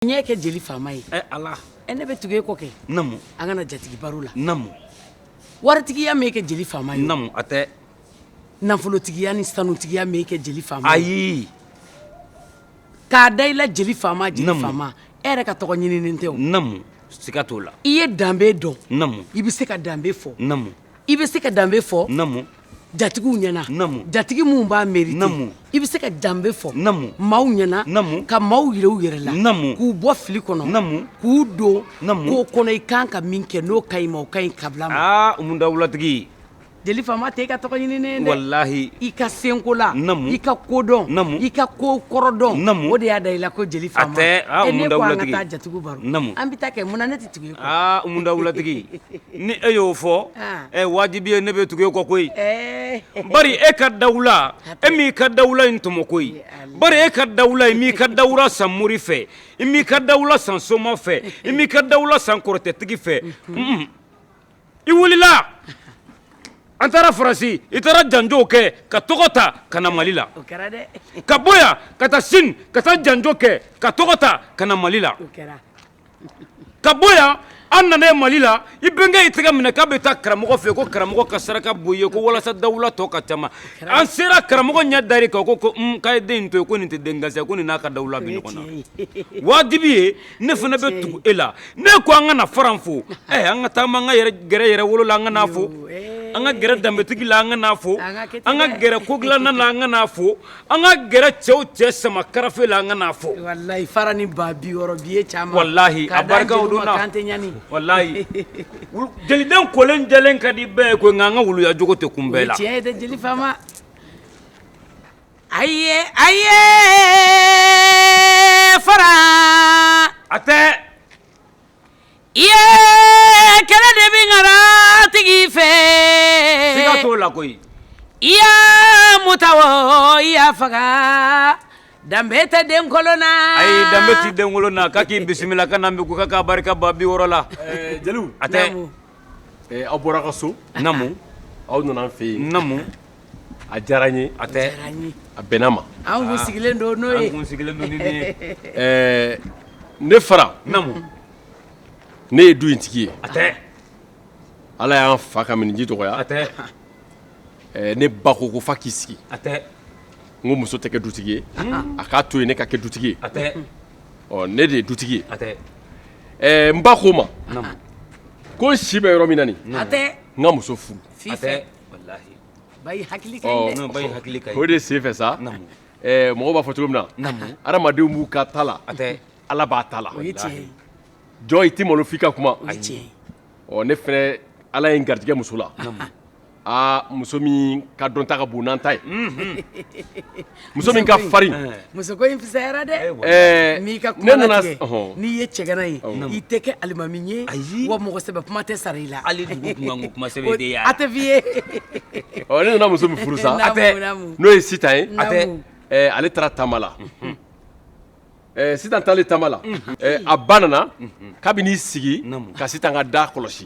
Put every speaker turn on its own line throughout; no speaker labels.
n ɲɛ kɛ jeli faama ye ne
bɛ tugu e
kɔ kɛ an ka na
jatigi
baro
la waritigiya
m'e kɛ jeli faama ye a tɛ
nafolotigiya
ni sanutigiya m'e kɛ jeli faama ye k'a da i la jeli faama jeli faama e yɛrɛ ka tɔgɔ ɲininen tɛ o siga
t'o la i ye danbe dɔn
i bɛ se ka
danbe
fɔ i bɛ
se ka
danbe
fɔ jatigiw
ɲɛna jatigi
minnu b'a
merite i bɛ se
ka danbe
fɔ maaw ɲɛna ka maaw yira
u yɛrɛ
la k'u bɔ fili
kɔnɔ
k'u
don
ko kɔnɔ i
kan ka
min kɛ n'o ka ɲi ma o ka ɲi kabila ma umu dawulatigi
jeli
faama tɛ i ka tɔgɔ ɲininen dɛ i
ka
senkola i ka kodɔn i ka ko
kɔrɔ
dɔn o de y'a da i la ko
jeli
faama an ka taa jatigi baro an bɛ taa kɛ a umu
dawulatigi ni e y'o fɔ ɛ wajibi ye ne bɛ tugu e kɔ koyi
bari e ka
dawula e m'i ka dawula in tɔmɔ koyi bari e ka dawula i m'i ka dawula san mori fɛ i m'i ka dawula san soma fɛ i m'i ka dawula san kɔrɔtɛtigi fɛ i wulila an taara faransi i taara janjo kɛ ka tɔgɔ ta ka na mali la
ka
bɔ
yan ka
taa sini ka taa janjo kɛ ka tɔgɔ ta ka na mali la Ka bɔ yan an nana mali la i bɛnkɛ y'i tɛgɛ minɛ k'a bɛ taa karamɔgɔ fɛ ko karamɔgɔ ka saraka bɔ i ye ko walasa dawula tɔ ka caman an sera karamɔgɔ ɲɛ dar'i kan ko k'a ye den in to yen ko nin tɛ den gansan ko nin n'a ka dawula bɛ ɲɔgɔn na wajibi ye ne fana bɛ tugu e la ne ko an ka na fara fo an ka taa an ka gɛrɛ yɛrɛwolo la an ka n'a fo an ka gɛrɛ danbetigi la an ka n'a fo an ka gɛrɛ kodilanna la an ka n'a fo An ka gɛrɛ cɛw cɛ sama karafe la an ka n'a fo walayi fara ni
ba bi wɔɔrɔ bi ye caman walahi a barika
walayi jeliden kolen jɛlen ka di bɛɛ ye ko nka an ka wuluya jogo tɛ kun bɛɛ la tiɲɛ ye jeli
faama a ye a ye fara
a tɛ
kɛlɛ de bɛ ŋara tigi
fɛ siga t'o la koyi i
y'a muta o i y'a faga danbe tɛ den kolon na danbe tɛ den
kolon na k'a k'i bisimila ka na bi ko k'a barika ba bi wɔɔrɔ la jeliw a
tɛ
aw
bɔra kaso aw
nana an fɛ
yen
A
diyara n ye a tɛ
a bɛnna n
ma an kun sigilen
don n'o ye sigilen
don ɛɛ ne
fara ne ye du in tigi ye a tɛ ala y'an fa ka miniji dɔgɔya a tɛ ne ba ko ko fa k'i sigi a
tɛ n ko
muso tɛ kɛ dutigi ye a k'a to yen ne ka kɛ dutigi ye a
tɛ ɔ ne de ye
dutigi ye a tɛ
n
ba ko n ma
ko
n si bɛ yɔrɔ min na a n ka muso
furu o de
sen fɛ sa
mɔgɔw
b'a fɔ cogo
min na hadamadenw b'u
ka ta
la Ala b'a
ta la
jɔn i tɛ
malo f'i ka kuma
ɔ ne fana
Ala ye n garijɛgɛ muso la aa muso min ka dɔnta ka bon n'an ta ye Muso min ka farin muso in
fisayara dɛ ka nana
n'i ye
cɛgana ye i tɛ kɛ alimami ye ayi wa mɔgɔ sɛbɛ kuma tɛ sara i la
a tɛ
f'i ye ne
nana muso min furu sa n'o ye
sitan
ye
ale taara
taama la sitan taalen taama la a ba nana k'a bɛ n'i sigi ka sitan ka da kɔlɔsi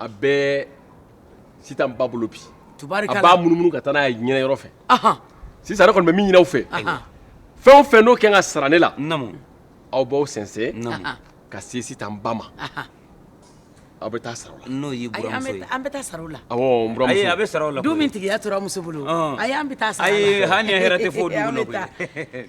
a bɛ sitan ba bolo bi a b'a munumunu ka
taa n'a
ye ɲɛna yɔrɔ fɛ sisan
ne kɔni bɛ min
ɲini aw fɛ fɛn
o fɛn n'o
ka kan ka sara ne la aw
b'aw
sɛnsɛn ka
se
sitan ba ma aw bɛ taa sara o la n'o y'i buranmuso ye ayi
an
bɛ
taa sara o la
awɔ n buranmuso ayi a bɛ
sara o la koyi du min
tigiya tora muso bolo
ayi an bɛ taa sara o la ayi hali ni ye hɛrɛ tɛ fɔ o
dugu la koyi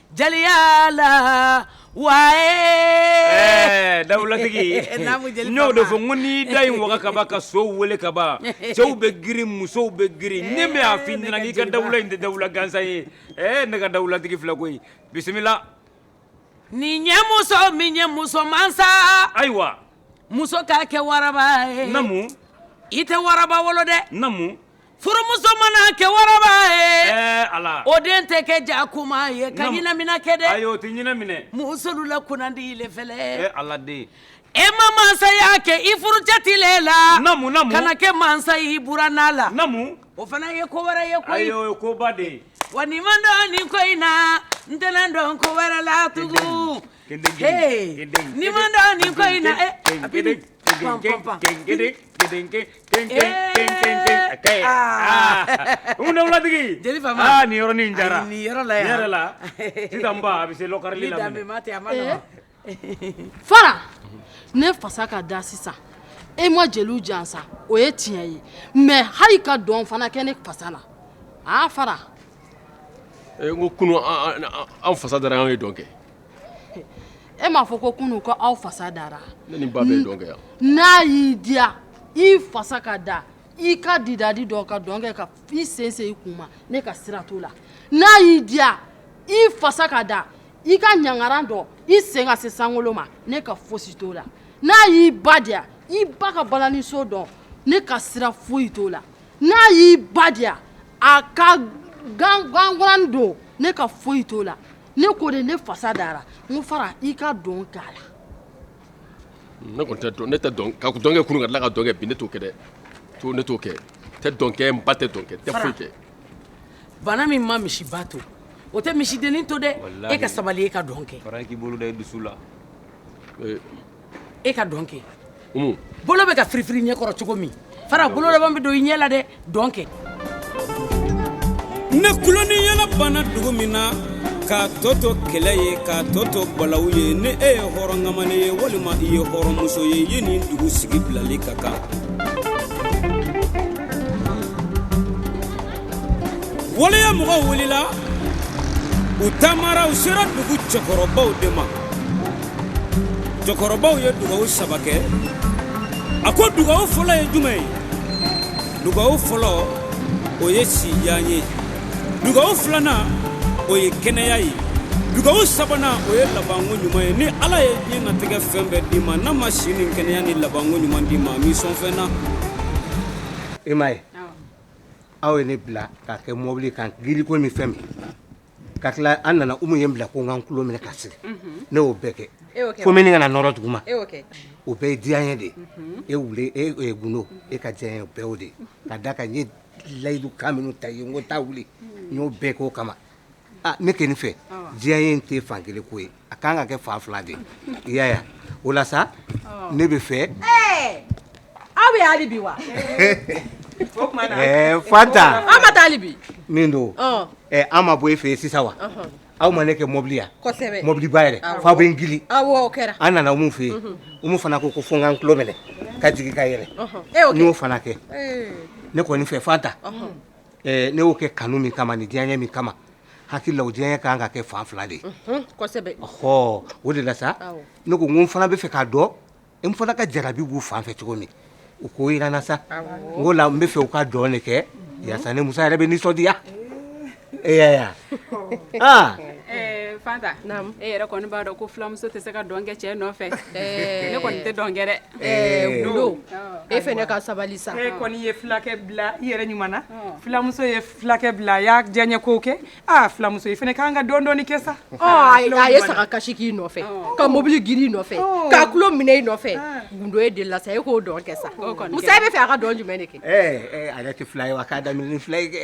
Jaliya la wa
dawulatigi n'o de fɔ ko ni da in waga ka ban ka so weele ka ban cɛw bɛ girin musow bɛ girin ne b'a f'i ɲɛna k'i ka dawula in tɛ dawula gansan ye ɛ ne ka dawulatigi filɛ koyi
bisimila nin ye muso min ye muso mansa ayiwa
muso k'a
kɛ waraba ye namu
i tɛ waraba
wolo dɛ
Furumuso
mana kɛ waraba ye ala o
den tɛ kɛ
jakuma ye ka ɲinamina kɛ dɛ ayi o tɛ ɲina minɛ
musolu
la kunnandi ile fɛlɛ ala den
e ma
mansaya kɛ i furucɛ tile la ka na
kɛ
mansa y'i buranna la o fana
ye
ko wɛrɛ ye koyi ayi o ye koba de ye
wa ni n ma dɔn
nin ko in na n tɛna dɔn ko wɛrɛ la tugu ni n ma dɔn nin ko in na eh a bi ni
pam pam pam dawulatigi jeli fama
nin yɔrɔ nin jara
nin yɔrɔ la yɛrɛ la sisan ba a bɛ se lɔkari la danbe ma tɛ a ma
nɔgɔ fara ne fasa ka da sisan e ma jeliw jansa o ye tiɲɛ ye mais hali ka dɔn fana kɛ ne fasa la aa fara
e ko kunu an fasa dara an ye dɔn
kɛ e m'a fɔ ko kunu ko aw fasa dara ne ni n ba bɛɛ ye dɔn
kɛ wa n'a y'i diya
i fasa ka da i ka didadi dɔn ka dɔn kɛ ka i sen se i kun ma ne ka sira t'o la n'a y'i diya i fasa ka da i ka ɲangaran dɔn i sen ka se sankolo ma ne ka fosi t'o la n'a y'i ba diya i ba ka balaniso dɔn ne ka sira foyi t'o la N'a y'i ba diya a ka gangan don ne ka foyi t'o la ne ko de ne fasa dara n fara i ka dɔn k'a la
ne ne ka kɛ kunun ka tila ka dɔnkɛ ne t'o kɛ dɛ ne t'o kɛ tɛ dɔnkɛ n ba tɛ dɔnkɛ tɛ foyi kɛ
bana min ma misi ba to o tɛ misi dennin to dɛ e ka sabali e ka dɔn kɛ k'i bolo da i dusu
la
e ka dɔn kɛ bolo
bɛ ka firifiri ɲɛkɔrɔ cogo min fara bolo laban bɛ don i ɲɛ la dɛ dɔn
kɛ ni tulon ni yɛlɛ banna dugu min na k'a tɔ to kɛlɛ ye k'a tɔ to balawu ye ni e ye hɔrɔn kamalen ye walima i ye hɔrɔnmuso ye ye nin dugu sigi bilali ka kan waleya mɔgɔw wulila u taamara u sera dugu cɛkɔrɔbaw de ma cɛkɔrɔbaw ye dugawu saba kɛ a ko dugawu fɔlɔ ye jumɛn ye dugawu fɔlɔ o ye sijan ye dugawu filanan o ye kɛnɛya ye dugawu sabanan o ye labanko ɲuman ye ni ala ye diɲɛ natigɛ fɛn bɛɛ d'i ma n'a ma si ni kɛnɛya ni labanko ɲuman d'i ma a m'i sɔn fɛn na
i ma ye aw ye ne bila k'a kɛ mobili kan giliko ni fɛn min ka tila an nana Umu ye n bila ko n ka n tulo minɛ ka sigi ne y'o bɛɛ kɛ fo minni kana nɔrɔ duguma o bɛɛ ye diyanye de ye e Wule e Gundo e ka diyanye o bɛɛ y'o de ye ka d'a kan n ye layidu kan minnu ta i ye n ko taa wuli n y'o bɛɛ k'o kama aa ne kɔni fɛ diyanye in tɛ fan kelen ko ye. a ka kan ka kɛ fan fila de i y'a ye o la sa ne bɛ
fɛ aw bɛ hali bi
wa fanta aw ma taa hali bi
min don
an ma bɔ e fɛ yen sisan wa aw ma ne kɛ mɔbili yan mɔbiliba yɛrɛ f'aw bɛ n gili an nana umu fɛ yen umu fana ko ko fo n ka n tulo minɛ ka jigin ka yɛlɛn n y'o fana kɛ ne kɔni fɛ fanta ne y'o kɛ kanu min kama ni diyaɲɛ min kama hakili la o diyaɲɛ ka kan ka kɛ fan fila de ye o de la sa ne ko n fana bɛ fɛ k'a dɔn n fana ka jarabi b'u fan fɛ cogo min u k'o jira n na sa o la n bɛ fɛ u ka dɔn de kɛ yaasa ne musa yɛrɛ bɛ nisɔndiya e
aa fanta e yɛrɛ kɔni b'a dɔn ko filamuso tɛ se ka dɔn kɛ cɛ nɔfɛ ne kɔni tɛ dɔn kɛ
e fana ka sabali sa e kɔni ye fulakɛ
bila i yɛrɛ ɲuman filamuso fulakɛ bila a y'a diyaɲɛ ko kɛ aa fulamuso i fɛnɛ k'an ka dɔn dɔɔni kɛ sa a ye
saga kasi k'i nɔfɛ ka mobili girin i nɔfɛ k'a tulo minɛ i nɔfɛ gundo e delila sa e k'o dɔn kɛ sa musa e bɛ fɛ a ka dɔn jumɛn de kɛ a yɛrɛ tɛ fila
ye wa k'a da fila ye kɛ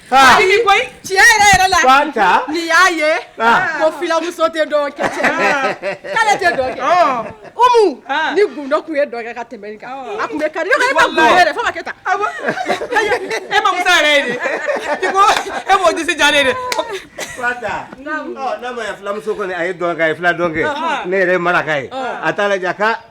Tiɲɛ yɛrɛ yɛrɛ
la
ni y'a ye ko filamuso tɛ kɛ cɛ k'ale tɛ kɛ umu ni gdo tun ye dɔgɔ ka tɛmɛ kan a tun kari
e ma e mɔgɔse ja dɛ n'a
ma filamuso kɔni a ye dɔn ye fula dɔn kɛ ne yɛrɛ maraka ye a t'a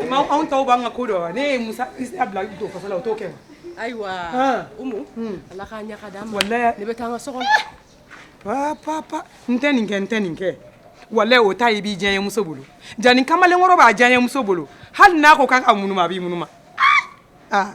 anw tɔw b'an ka ko dɔn wa ne ye musa bila to fasa la o t'o kɛ wa
ayiwa umu ala k'a ɲaga d'an ma walayi ne bɛ taa an ka so kɔnɔ pa pa pa
n tɛ nin kɛ n tɛ nin kɛ walayi o ta i b'i diyaɲɛ muso bolo jani kamalenkɔrɔ b'a diyaɲɛ muso bolo hali n'a ko k'a ka munuma a b'i munuma aa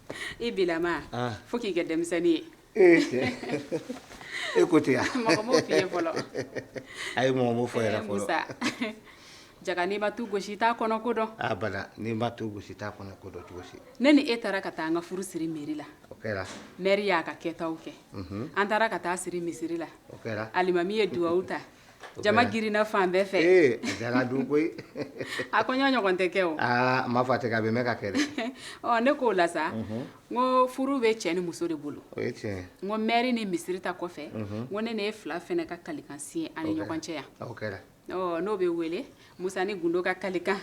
I b'i lamaa fo k'i kɛ denmisɛnnin
ye e ko ten mɔgɔ m'o f'i ye fɔlɔ
ayi
mɔgɔ m'o fɔ yɛrɛ
jaa n'i ma tu gosi i t'a kɔnɔ ko dɔn n'i ma
tu gosi i t'a kɔnɔ ko dɔn cogo si ne ni e taara ka
taa an ka furu siri mɛri la
mɛri y'a ka
kɛtaw kɛ an taara ka taa siri misiri la alimami ye
duwawu ta
Jama girinna fan bɛɛ
fɛ a
kɔɲɔ ɲɔgɔn tɛ kɛ a ma fɔ a tɛ
kɛ a bɛ mɛn ka kɛ ne k'o la sa
n ko furu bɛ cɛ ni muso de bolo
n ko mɛri
ni misiri ta kɔfɛ ko ne ni e fila fɛnɛ ka kalikan siɲɛ an ni ɲɔgɔn cɛ yan
n'o bɛ wele
musa ni gundo ka kalikan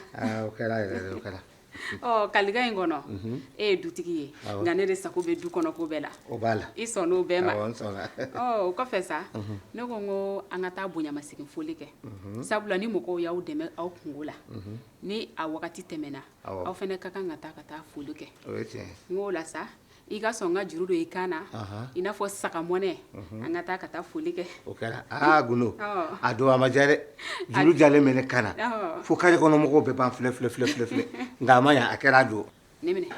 ɔ kalikan
in kɔnɔ e ye dutigi ye nka ne de sago bɛ du kɔnɔ ko bɛɛ la o b'a la i sɔnn'o
bɛɛ ma awɔ
n sɔnna ɔ
o kɔfɛ sa
ne ko n ko an ka taa bonyamasegin foli kɛ sabula ni mɔgɔw y'aw dɛmɛ aw kunko la ni a wagati tɛmɛna aw fɛnɛ ka kan ka taa ka taa foli kɛ o ye tiɲɛ ye n k'o
la sa
i ka sɔn ka juru don i kan na i n'a fɔ saga mɔnɛ an ka taa ka taa foli kɛ o kɛra aa
gundo a don a ma diya dɛ juru jalen bɛ ne kan na fo kare kɔnɔmɔgɔw bɛɛ b'an filɛ nka a ma ɲa a kɛra a don
nin minɛ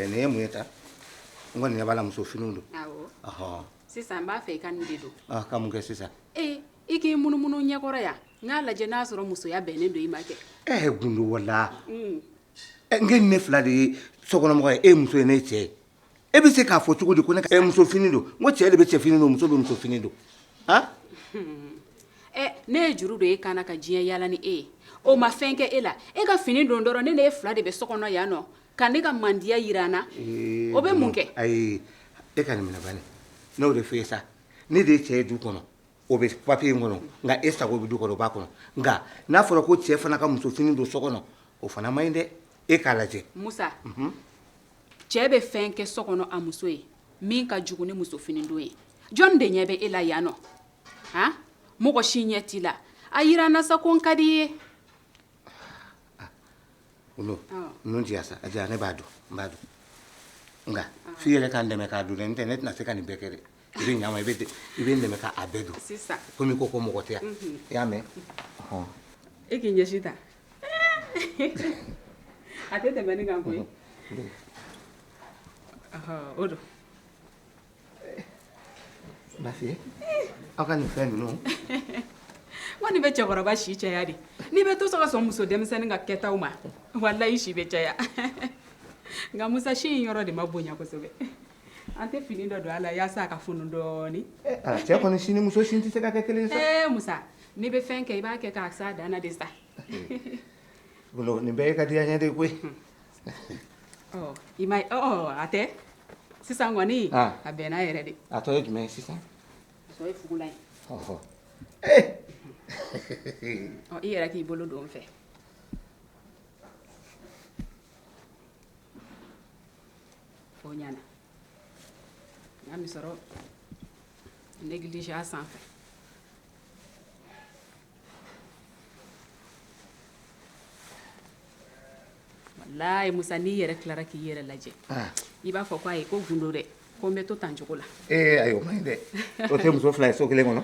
nin ye mun ye ta n kɔni ɲɛ b'a la muso finiw don
sisan n b'a fɛ i ka nin de don ka mun kɛ sisan
I
k'i munumunu n ɲɛ kɔrɔ yan n k'a lajɛ n'a sɔrɔ musoya bɛnnen don i ma kɛ e gundo
wala ne ni e fila de ye sokɔnɔmɔgɔ ye e muso ye ne cɛ ye e bɛ se k'a fɔ cogo di ko ne e muso fini don n ko cɛ de bɛ cɛ fini don muso bɛ muso fini don
ne ye juru don e kan na ka diɲɛ yaala ni e ye o ma fɛn kɛ e la e ka fini don dɔrɔn ne ni e fila de bɛ so kɔnɔ yan nɔ ka ne ka mandiya yira n na o bɛ mun kɛ ayi
e ka nin minɛ n'o de fɛ sa ne de ye cɛ ye du kɔnɔ o bɛ papiye in kɔnɔ nka e sago bɛ du kɔnɔ o b'a kɔnɔ nka n'a fɔra ko cɛ fana ka muso fini don so kɔnɔ o fana man ɲi dɛ e k'a lajɛ musa mhm.
cɛ bɛ fɛn kɛ so kɔnɔ a muso ye min ka jugu ni muso fini don ye jɔn de ɲɛ bɛ e la yan nɔ han mɔgɔ si ɲɛ t'i la a yira n na sa ko n ka di i ye
olu ninnu ti sa a ne b'a dɔn n b'a dɔn nka f'i yɛrɛ ka n dɛmɛ k'a don dɛ n tɛ ne tɛna se ka nin bɛɛ kɛ dɛ i bɛ ɲama i bɛ i bɛ n dɛmɛ k'a bɛɛ don komi ko ko
mɔgɔ
tɛ yan i y'a
mɛn e k'i ɲɛsin tan a tɛ tɛmɛ nin kan koyi o don
Lafiya aw ka nin fɛn
ninnu wa nin bɛ cɛkɔrɔba si caya de n'i bɛ to sɔn ka sɔn muso denmisɛnnin ka kɛtaw ma walayi i si bɛ caya nka Musa sin yɔrɔ de ma bonya kosɛbɛ an tɛ fini dɔ don a la walasa a ka funu dɔɔnin
cɛ muso sin tɛ se ka kɛ kelen Musa n'i bɛ
fɛn kɛ i b'a kɛ k'a s'a dan na de sa
nin bɛɛ ye ka di n ye de koyi
I ma a tɛ sisan kɔniɔni a bɛn n'a yɛrɛ de a tɔgɔ ye jumɛn ye sisan i yɛrɛ k'i bolo don fɛ ɲɛna an bɛ sɔrɔ ne gilisi sanfɛ Walayi Musa n'i yɛrɛ tilara k'i yɛrɛ lajɛ, an, i b'a fɔ ko ayi ko Gundo dɛ ko n bɛ to tan cogo la, ee ayi o man ɲi dɛ,
o tɛ muso fila ye so kelen kɔnɔ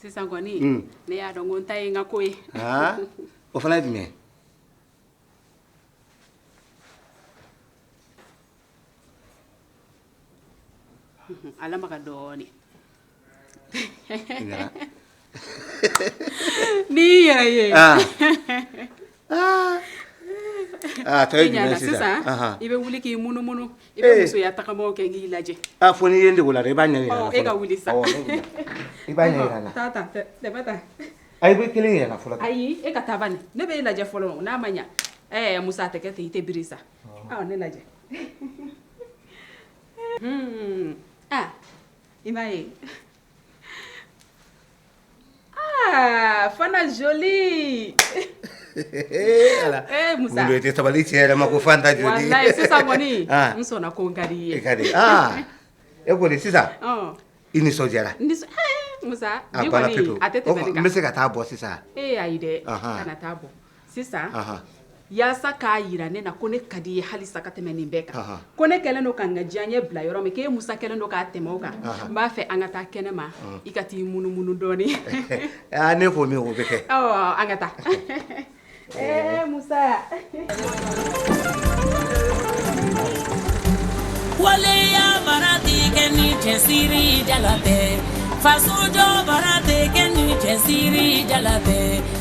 sisan kɔni ne y'a dɔn ko n ta ye n ka ko ye o
fana ye jumɛn ye
a lamaga dɔɔnin N'i yɛrɛ
ye sisan i bɛ
wuli k'i munumunu i bɛ musoya taama kɛ n k'i lajɛ fo n'i ye n dege o la
i b'a ɲɛ e ka wuli sa i b'a i bɛ
kelen yira
n na fɔlɔ ayi e ka taa
bani ne bɛ e lajɛ fɔlɔ n'a ma ɲɛ ɛɛ Musa a tɛ kɛ ten i tɛ biri sa ne lajɛ i m'a ye Ah, fana jolie tɛ sabali tiɲɛ
yɛrɛ ma ko Fanta jolie sisan kɔni
n sɔnna ko n ka di i ye ka di
e kɔni sisan i nisɔndiyara
a bɛ se ka taa bɔ sisan
e ayi dɛ kana
taa bɔ sisan yaasa k'a yira ne na ko ne ka di i ye halisa ka tɛmɛ nin bɛɛ kan ko ne kɛlen don ka n ka diyaɲɛ bila yɔrɔ min k'e Musa kɛlen don ka tɛmɛ o kan n b'a fɛ an ka taa kɛnɛma i ka t'i munumunu dɔɔnin aa n'e
ko min o bɛ kɛ awɔ an ka taa
ee
Musa waleya baara tɛ kɛ ni cɛsiri jala tɛ faso jɔ baara tɛ kɛ ni cɛsiri jala tɛ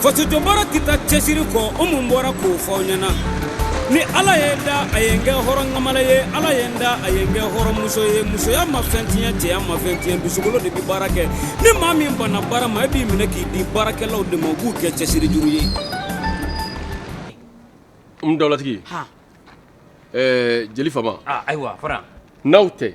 faso jɔ baara tɛ taa cɛsiri kɔ o mun bɔra k'o fɔ aw ɲɛna ni ala ye n da a ye n kɛ hɔrɔnkamalen ye ala ye n da a ye n kɛ hɔrɔnmuso ye musoya ma fɛn tiɲɛ cɛya ma fɛn tiɲɛ dusukolo de bɛ baara kɛ ni maa min banna baara ma e b'i minɛ k'i di baarakɛlaw de ma u b'u kɛ cɛsiri juru
ye n dawulatigi ɛɛ jeli fama ayiwa fara
n'aw tɛ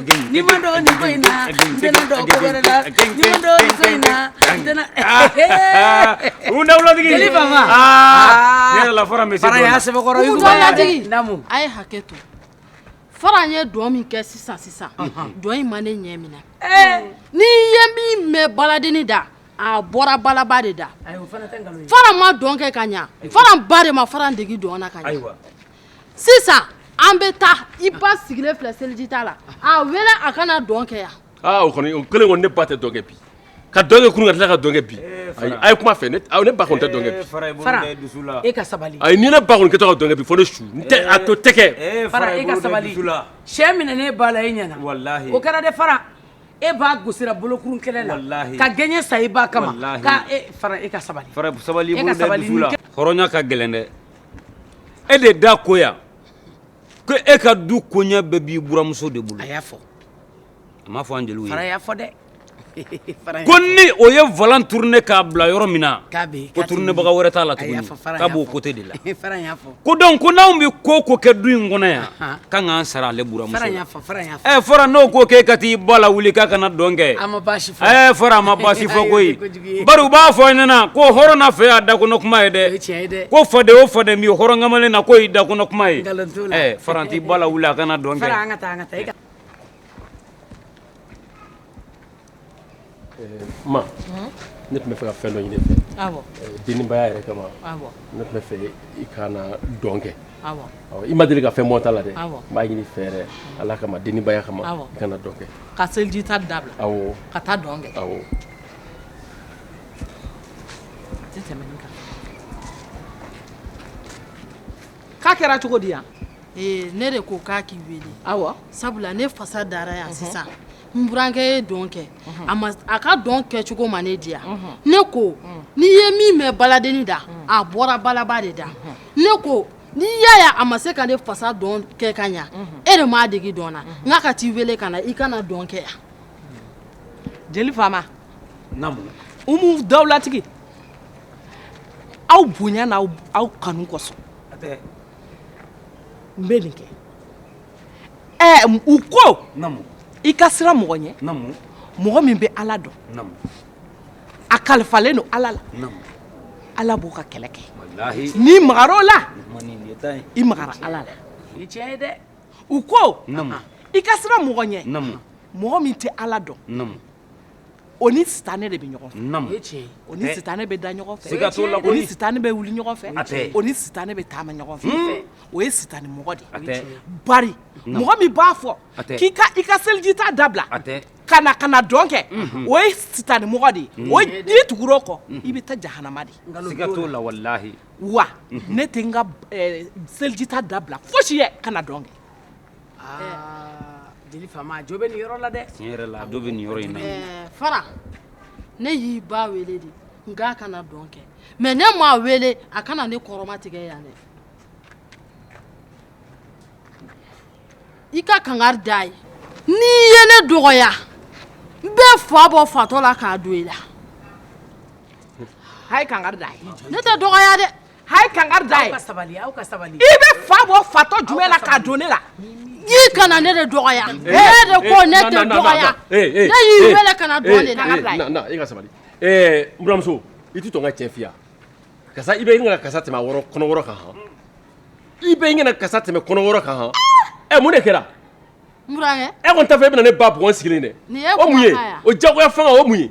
ni n ma dɔn nin ko in na n tɛna dɔn ko wɛrɛ la ni n ma dɔn nin ko in
na n tɛna u dawulatigi jeli fama
ne yɛrɛ
la fara bɛ se fara y'a sɛbɛkɔrɔ yuguba dawulatigi
namu a ye hakɛ
to fara ye dɔn min kɛ sisan sisan dɔn in ma ne ɲɛ minɛ n'i ye min mɛn baladenni da a bɔra balaba de da
fara ma dɔn kɛ ka
ɲa fara ba de ma fara degi dɔn na ka ɲa sisan an bɛ taa i ba sigilen filɛ seliji ta la a wele a ka na dɔn kɛ yan aa o kɔni o kelen
kɔni ne ba tɛ dɔn kɛ bi ka dɔn kɛ kunun ka tila ka dɔn kɛ bi ayi a' ye kuma fɛ ne aw ne ba kɔni tɛ dɔn kɛ bi fara i bolo da i dusu la
fara e ka
sabali
ayi ni ne
ba kɔni kɛtɔ ka
dɔn kɛ bi fo ne su n tɛ a to tɛ kɛ ee fara i ka sabali fara
i bolo da i dusu la cɛ minɛna ne ba la e ɲɛna walahi o kɛra dɛ fara e ba gosira bolokurun kɛlɛ la walahi ka gɛɲɛ sa i
ba
kama walahi ka e fara
e ka
sabali fara sabali i bolo da
i dusu la hɔrɔnya ka
gɛlɛn
dɛ e de da ko yan ko e ka du koɲɛ bɛɛ b'i buranmuso de bolo a y'a
fɔ a m'a fɔ
an jeliw ye fara y'a fɔ dɛ
ko ni o ye
volant tourner k'a bila yɔrɔ min na ko tournebaga
wɛrɛ t'a
la tuguni k'a b'o
côté
de la
ko donc ko n'anw
bɛ ko o ko kɛ du in kɔnɔ yan k'an k'an
sara ale
buranmuso la
ɛ
fara
n'o ko k'e ka
t'i ba lawuli k'a ka na dɔn kɛ ɛ
fara a ma baasi fɔ
koyi
u b'a fɔ an
ɲɛna ko hɔrɔn na fɛn y'a da kɔnɔ kuma ye dɛ
ko
faden
o faden
b'i hɔrɔn kamalen na k'o y'i da kɔnɔ kuma ye fara
t'i ba lawuli a
ka na dɔn
kɛ ne tun
b'a fɛ ka fɛn dɔ ɲini i fɛ
denbaya yɛrɛ
kama ne tun b'a fɛ i kana dɔn kɛ i ma deli
ka fɛn bɔ n
ta la dɛ n b'a ɲini i fɛ yɛrɛ ala kama denbaya kama i kana dɔn kɛ
ka
seliji ta
dabila ka taa dɔn
kɛ
Tɛ tɛmɛ nin kan. K'a kɛra cogo di yan? Ee ne de ko
k'a k'i wele. Awɔ. Sabula
ne fasa
dara yan sisan. Unhun. N burankɛ ye dɔn kɛ. Unhun. A ma a ka dɔn kɛcogo ma ne diya. Unhun. Ne ko. Un. N'i ye min mɛn baladenin da. Un. A bɔra balaba de da. Unhun. Ne ko n'i y'a ye a ma se ka ne fasa dɔn kɛ ka ɲa. Unhun. E de m'a dege dɔn na. Unhun. N k'a ka t'i wele ka na i ka na dɔn kɛ yan.
jeli faama
umu
dawulatigi aw bonya ni aw kanu kosɔn n bɛ nin kɛ ɛɛ u ko i ka
siran mɔgɔ
ɲɛ mɔgɔ
min bɛ
ala dɔn
a
kalifalen don ala la
ala b'o
ka kɛlɛ kɛ n'i magara
o la i magara ala la
o ye tiɲɛ ye dɛ u ko i ka
siran mɔgɔ
ɲɛ mɔgɔ min
tɛ Ala
dɔn
o ni
sitanɛ de bɛ ɲɔgɔn fɛ o ni
sitanɛ
bɛ da ɲɔgɔn fɛ o ni sitanɛ
bɛ wuli
ɲɔgɔn
fɛ
o ni sitanɛ bɛ
taama
ɲɔgɔn fɛ o ye sitanɛmɔgɔ de ye bari
mɔgɔ
min b'a fɔ k'i ka i ka
selijita
dabila ka na ka
na dɔn
kɛ o ye sitanɛmɔgɔ de ye n'i tugura o kɔ i bɛ taa jahanama de siga t'o la walahi
wa
ne tɛ n ka selijita dabila fosi ye ka na dɔn kɛ jeli faama jo bɛ nin yɔrɔ la dɛ tiɲɛ yɛrɛ la dɔ bɛ nin yɔrɔ
in na fara
ne y'i ba wele de n k'a ka na dɔn kɛ mɛ ne m'a wele a ka na ne kɔrɔma tigɛ yan dɛ i ka kangari d'a ye n'i ye ne dɔgɔya n bɛ fa bɔ fatɔ la k'a don i la
a ye kangari d'a ye ne tɛ dɔgɔya
dɛ a ye kangari
d'a ye sabali sabali
i bɛ fa
bɔ fatɔ jumɛn la k'a don ne la i kana
ne de dɔgɔya e de ko ne tɛ
dɔgɔya i ka sabali n buranmuso i tɛ tɔn ka cɛ fiya kasa i bɛ gana kasa tɛmɛ kɔnɔwɔrɔ kan han i bɛ gana kasa tɛmɛ kɔnɔwɔrɔ kan han ɛ mun de kɛra
e kɔni t'a fɛ e bɛna ne ba
bugɔ n sigilen dɛ o mun ye
o
jagoya fanga
o mun ye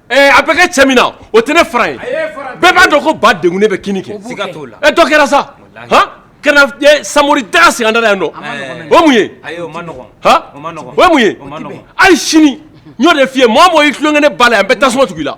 A bɛ kɛ cɛ min na o tɛ ne fara ye bɛɛ b'a dɔn ko ba de ne bɛ k kɛ dɔ kɛra sa sa da sirada yan dɔn ayi sini ɲɔ de fiye mɔgɔ mɔgɔ y' tulon kelen ne ba la yan bɛ tasuma tugu la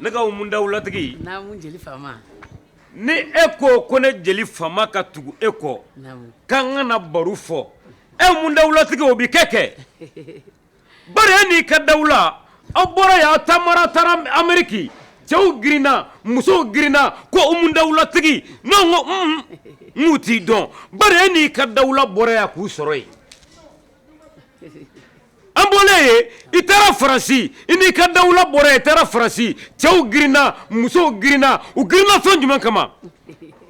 Ne ka umu
dawulatigi jeli faama
ni e ko ko ne jeli faama ka tugu e kɔ k'an ka na baro fɔ e umu dawulatigi o bɛ kɛ kɛ bari e n'i ka dawula aw bɔra yan taama ra taara ameriki cɛw girinna musow girinna ko umu dawulatigi ne ko n'u t'i dɔn bari e n'i ka dawula bɔra yan k'u sɔrɔ yen An bɔlen ye i taara Faransi i n'i ka dawula bɔra yan i taara Faransi cɛw girinna musow girinna u girinna fɛn jumɛn kama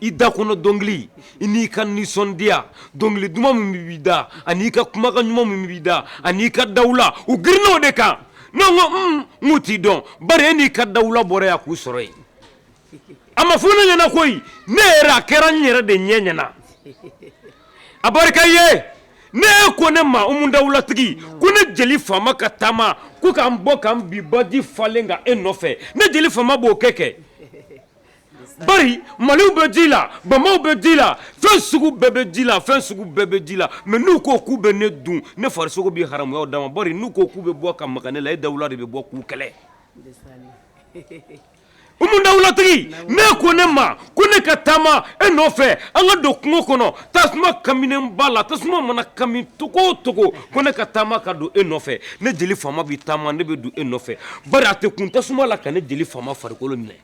i da kɔnɔ dɔnkili i n'i ka nisɔndiya dɔnkili duman min b'i da ani i ka kumakan ɲuman min b'i da ani i ka dawula u girinna o de kan n' ko n'u t'i dɔn bari e n'i ka dawula bɔra yan k'u sɔrɔ yen a ma fɔ ne ɲɛna koyi ne yɛrɛ a kɛra n yɛrɛ de ɲɛ ɲɛna a barika ye n'e ko ne ma umu dawulatigi ko ne jeli faama ka taama ko k'an bɔ k'an bin baji falen kan e nɔfɛ ne jeli faama b'o kɛ kɛ bari maliw bɛ ji la bamaw bɛ ji la fɛn sugu bɛɛ bɛ ji la fɛn sugu bɛɛ bɛ ji la mɛ n'u ko k'u bɛ ne dun ne farisogo bɛ haramuya u da ma bari n'u ko k'u bɛ bɔ ka maga ne la e dawula de bɛ bɔ k'u kɛlɛ Umu dawulatigi n'e ko ne ma ko ne ka taama e nɔfɛ an ka don kungo kɔnɔ tasuma kaminenba la tasuma mana kami cogo o cogo ko ne ka taama ka don e nɔfɛ ne jeli faama bɛ taama ne bɛ don e nɔfɛ bari a tɛ kun tasuma la ka ne jeli faama farikolo minɛ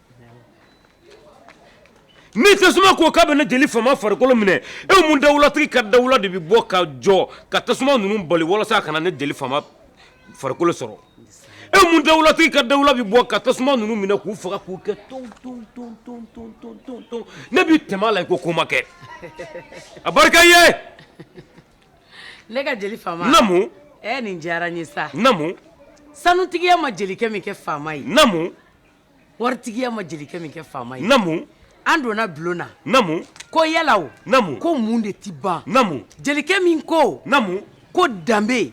ni tasuma ko k'a bɛ ne jeli faama farikolo minɛ e umu dawulatigi ka dawula de bɛ bɔ ka jɔ ka tasuma ninnu bali walasa a kana ne jeli farikolo sɔrɔ e umu dawulatigi ka dawula bɛ bɔ ka tasuma ninnu minɛ k'u faga k'u kɛ ton ne bɛ tɛmɛ la i ko ko ma kɛ a barika
ye ne ka jeli faama naamu e
nin diyara n
ye sa
naamu sanutigiya
ma jelikɛ min kɛ faama ye
Watigiya
ma jelikɛ min kɛ faama ye an donna
bulonda
ko
yalalamu
ko mun de tɛ
ban
jelikɛ
min ko
ko
danbebe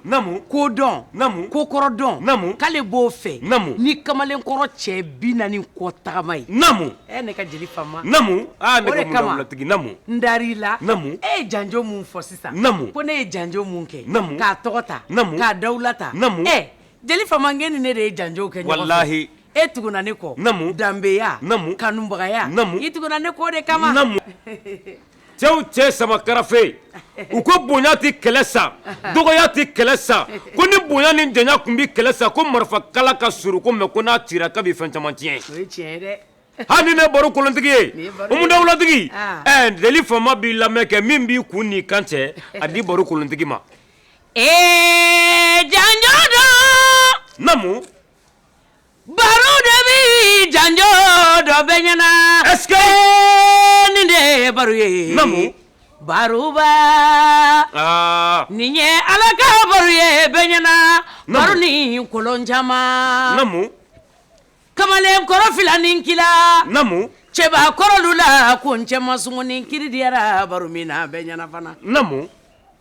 ko dɔn ko kɔrɔ dɔn k'ale b'o fɛ ni kamalen
kɔrɔ
cɛ bi naani kɔ tagama ye ne ka jeli fa dari
la
e ye janj
min
fɔ sisan ko ne ye janj
min
kɛ k'a tɔgɔ ta k'a dawuwula ta
Jeli fama
k'e ni ne de ye janjo kɛ walahi e
tuguna ne
kɔ danbeya
kanubagaya
i tuguna ne
kɔ o
de
kama cɛw cɛ sama karafe u ko bonya tɛ kɛlɛ sa dɔgɔya tɛ kɛlɛ sa ko ni bonya ni janya tun bɛ kɛlɛ sa ko marifa kala ka surun ko mɛ ko n'a cira k'a bɛ fɛn caman
tiɲɛ hali ne
baro kolontigi ye umu dawulatigi jeli faama b'i lamɛn kɛ min b'i kun n'i kan cɛ a di baro kolontigi ma
Ɛɛ janjo don naamu baro de bɛ janjo dɔ bɛɛ ɲɛna ɛsikɛ
nin de
ye baro ye naamu
baroba
nin ye ala ka baro ye bɛɛ ɲɛna baro ni kolon caman
naamu
kamalenkɔrɔ fila ni kila naamu
cɛbakɔrɔlu
la ko n cɛ ma sugu nin kiri diyara baro min na bɛɛ ɲɛna fana naamu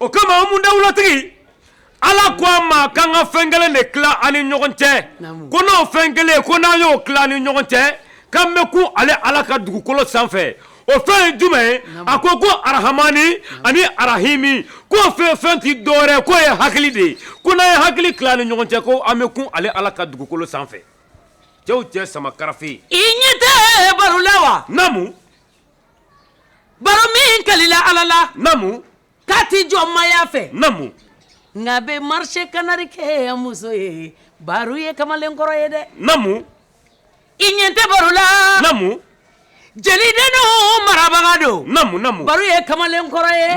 O kama Umu dawulatigi ala ko a ma k'an ka fɛn kelen de tila an ni ɲɔgɔn cɛ ko n'o fɛn kelen ko n'an y'o tila an ni ɲɔgɔn cɛ k'an bɛ kun ale ala ka dugukolo sanfɛ o fɛn ye jumɛn ye a ko ko arahamani ani arahimi ko fɛn fɛn tɛ dɔwɛrɛ k'o ye hakili de ye ko n'an ye hakili tila an ni ɲɔgɔn cɛ ko an bɛ kun ale ala ka dugukolo sanfɛ cɛw cɛ sama karafe i ɲɛ tɛ
baro la wa Baro min kalila ala la namu
k'a tɛ
jɔnmaya fɛ
nka a bɛ
marisi kanari kɛ muso ye baro ye kamalen kɔrɔ ye
dɛ
i ɲɛ tɛ baro
la
jelidenw marabaga don baro ye
kamalen
kɔrɔ ye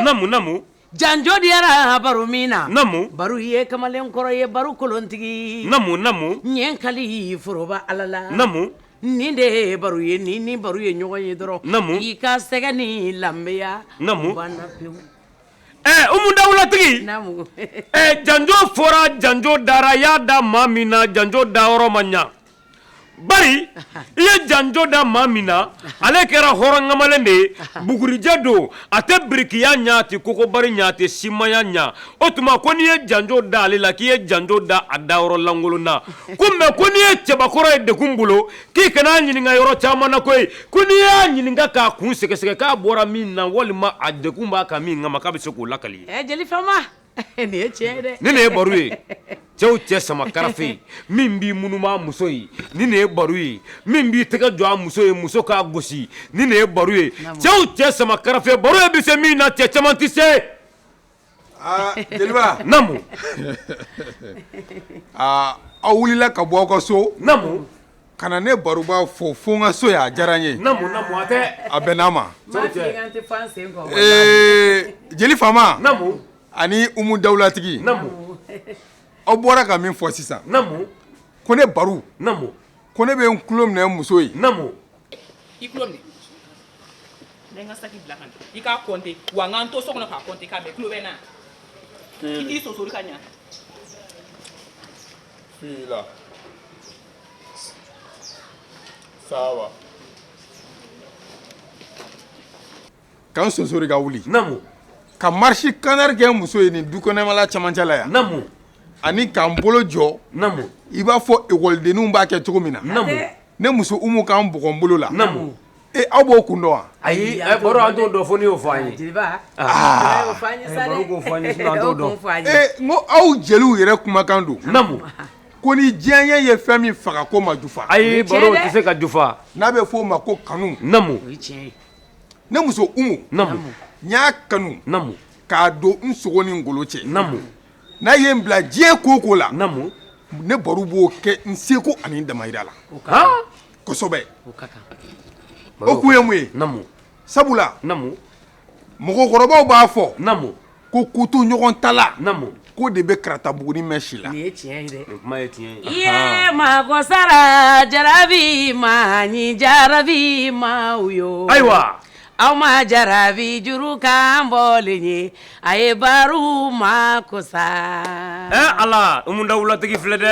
Janjo
diyara baro min na namu baro
ye
kamalen kɔrɔ ye baro kolontigi namu
namu n ye n
kali foroba ala la namu
nin de ye
baro ye n'i ni baro ye ɲɔgɔn ye dɔrɔn namu i ka
sɛgɛn
ni lanbeya
namu banna Umu
dawulatigi janjo
fɔra janjo dara y'a da maa min na janjo da yɔrɔ ma ɲa bari i ye janjo da maa min na ale kɛra hɔrɔnkamalen de ye bugurijɛ don a tɛ birikiya ɲa a tɛ kogobari ɲa a tɛ simaya ɲa o tuma ko n'i ye janjo da ale la k'i ye janjo da a dayɔrɔ lankolon na ko mɛ ko n'i ye cɛbakɔrɔ ye degun bolo k'i kana a ɲininka yɔrɔ caman na koyi ko n'i y'a ɲininka k'a kun sɛgɛsɛgɛ k'a bɔra min na walima a degun b'a kan min kama k'a bɛ se k'o lakali
nin ye tiɲɛ ye dɛ nin de ye baro
ye cɛw cɛ sama karafe min b'i munuma muso ye nin de ye baro ye min b'i tɛgɛ jɔ a muso ye muso k'a gosi nin de ye baro ye cɛw cɛ sama karafe baro ye bɛ se min na cɛ caman tɛ se aa
jeliba namu aa aw wulila ka bɔ aw ka so namu
Ka na
ne baroba fo fo n ka so yan a diyara n ye,
a bɛnna n
ma,
ee jeli faama
ani
Umu
dawulatigi
aw
bɔra ka min fɔ sisan ko
ne
Baro ko
ne bɛ n
tulo minɛ n muso ye Saba. Ka n sonsori ka wuli namu ka
marisi
kanari kɛ n muso ye nin dukɛnɛmala camancɛla yan namu
ani ka
n bolo jɔ namu i
b'a fɔ
ekɔlidenninw b'a kɛ cogo min na ne
muso
Umu ka n bugɔ n bolo la
Aw b'o
kun dɔn wa ayi a baro an
t'o dɔn fo n'i y'o fɔ an ye ko aw
jeliw yɛrɛ kumakan don namu ko
ni
diyanye ye fɛn min faga k'o ma jufa ayi baro tɛ se ka
jufa n'a bɛ f'o ma
ko kanu ne muso Umu n y'a kanu
k'a don
n sogo ni golo cɛ n'a
ye n bila
diɲɛ ko o ko la ne
baro b'o
kɛ n seko ani n damayira la kosɛbɛ o ka kan o kun ye mun ye namu
sabula namu
mɔgɔkɔrɔbaw b'a fɔ namu ko
kotoɲɔgɔntala
namu k'o de bɛ
karata
buguni mɛɛn si la nin ye tiɲɛ ye dɛ nin kuma ye
tiɲɛ ye i
yee mago
sara jarabi ma ni jarabi ma u yo ayiwa
aw
ma jarabi juru kan bɔlen ye a ye baro mago sa ɛɛ Ala Umu
Dawulatigi filɛ dɛ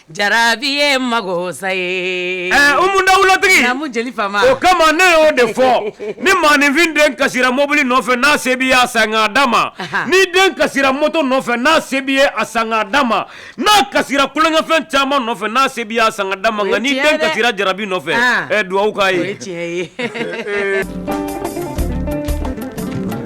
Jarabi ye mago sa ye dawulatigi o kama ne y'o
de fɔ ni maaninfin den kasira mɔbili nɔfɛ n'a se b'i ye a san k'a d'a ma ni den kasira mɔto nɔfɛ n'a se b'i ye a san k'a d'a ma n'a kasira tulonkɛfɛn caman nɔfɛ n'a se b'i ye a san k'a d'a ma nka ni den kasira jarabi nɔfɛ dugawu k'a ye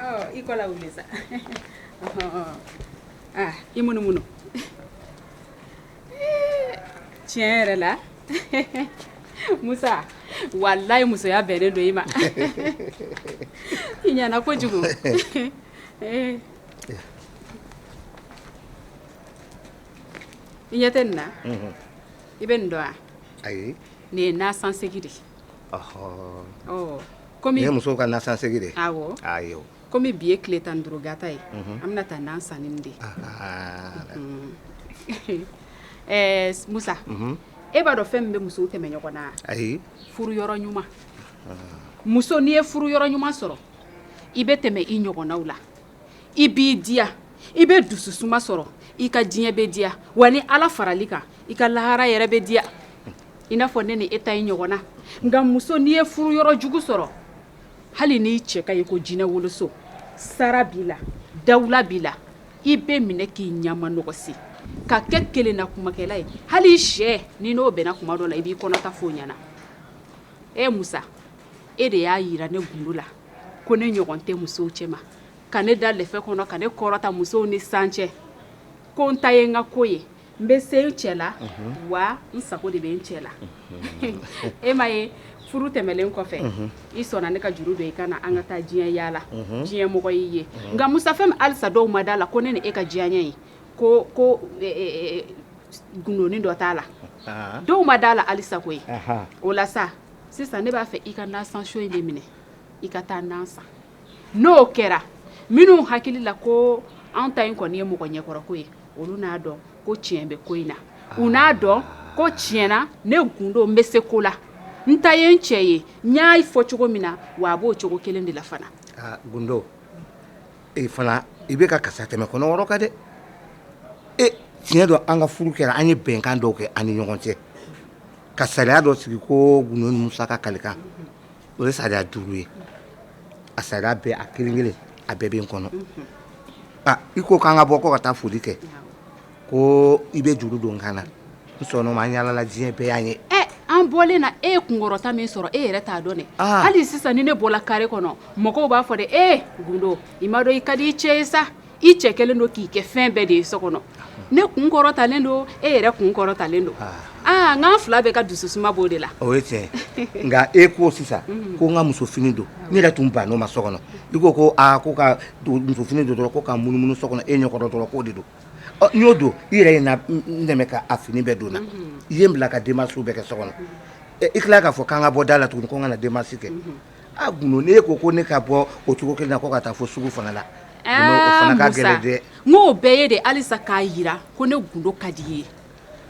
Oh, i ko lawuli sa. Oh. Ah, i munumunu. Tiɲɛ yɛrɛ la Musa walayi musoya bɛnnen don i ma i ɲɛna kojugu eh. i ɲɛ tɛ nin na mhm. i bɛ nin dɔn wa ayi nin
ye nasansegi
de
Kɔmi muso ka nasansegi
de kɔmi
bi ye
tile tan ni duuru gata ye an bɛna taa na san de ye musa e b'a dɔn fɛn min bɛ musow tɛmɛ ɲɔgɔn na ayi furu
yɔrɔ
ɲuman muso n'i ye furu yɔrɔ ɲuman sɔrɔ i bɛ tɛmɛ i ɲɔgɔnnaw la i b'i diya i bɛ dusu suma sɔrɔ i ka diɲɛ bɛ diya wa ni ala farali kan i ka lahara yɛrɛ bɛ diya i n'a fɔ ne ni e ta i ɲɔgɔnna nka muso n'i ye furu yɔrɔ jugu sɔrɔ hali n'i cɛ ka ɲi ko jinɛ woloso sara b'i la dawula b'i la i bɛ minɛ k'i ɲama nɔgɔsi ka kɛ kelennakumakɛla ye hali i sɛnin n'o bɛnna kuma dɔ la i b'i kɔnɔta f'o ɲɛna e musa e de y'a yira ne gundo la ko ne ɲɔgɔn tɛ musow cɛma ka ne da lɛfɛ kɔnɔ ka ne kɔrɔta musow ni san cɛ ko n ta ye n ka ko ye n bɛ se n cɛ la wa n sago de bɛ n cɛ la e m'a ye furu tɛmɛlen kɔfɛ i sɔnna ne ka juru don i kan na an ka taa diɲɛ yaala diɲɛ mɔgɔ y'i ye nka musa fɛn min alisa dɔw ma d'a la ko ne ni e ka diyanye ko gundonin dɔ t'a la dɔw ma d'a la alisa koyi o la sa sisan ne b'a fɛ i ka nasan so in de minɛ i ka taa na san n'o kɛra minnu hakili la ko an ta in kɔni ye mɔgɔ ɲɛkɔrɔko ye olu n'a dɔn ko tiɲɛ bɛ ko in na u n'a dɔn ko tiɲɛ na ne gundo n bɛ se ko la n ta ye n cɛ ye n y'a fɔ cogo min na wa a b'o cogo kelen de la fana
gundo e fana i bɛ ka kasa tɛmɛ kɔnɔ wɔrɔ ka dɛ e tiɲɛ don an ka furu kɛra an ye bɛnkan dɔw kɛ an ni ɲɔgɔn cɛ ka sariya dɔ sigi ko gundo ni musa ka kalikan o ye sariya duuru ye a sariya bɛɛ a kelen kelen a bɛɛ bɛ n kɔnɔ i ko k'an ka bɔ ko ka taa foli kɛ ko i bɛ juru don n kan na n sɔnn'o ma an yaalala diɲɛ bɛɛ y'a ye an bɔlen
na e ye kunkɔrɔta min sɔrɔ e yɛrɛ t'a dɔn dɛ hali sisan ni ne bɔla kare kɔnɔ mɔgɔw b'a fɔ de e gundo i m'a dɔn i ka di i cɛ ye sa i cɛ kɛlen don k'i kɛ fɛn bɛɛ de ye so kɔnɔ ne kun kɔrɔtalen don e yɛrɛ kun kɔrɔtalen don aa n'an fila bɛɛ ka dusu suma b'o de la o ye tiɲɛ
nka e ko sisan ko n ka muso fini don ne yɛrɛ tun bann'o ma so kɔnɔ i ko ko aa ko ka muso fini don dɔrɔn ko ka munumunu so kɔnɔ e ɲɛ kɔrɔ dɔrɔn k'o de don ɔ n y'o don i yɛrɛ ye n dɛmɛ ka a fini bɛɛ don n na i ye n bila ka démarche bɛɛ kɛ so kɔnɔ i tila k'a fɔ k'an ka bɔ da la tugun ko n ka na démarche kɛ A Gundo n'e ko ko ne ka bɔ o cogo 1 na ko ka taa fo sugu fana la aa Musa o fana ka
gɛlɛn dɛ ŋ'o bɛɛ ye de halisa k'a yira ko ne gundo ka di i ye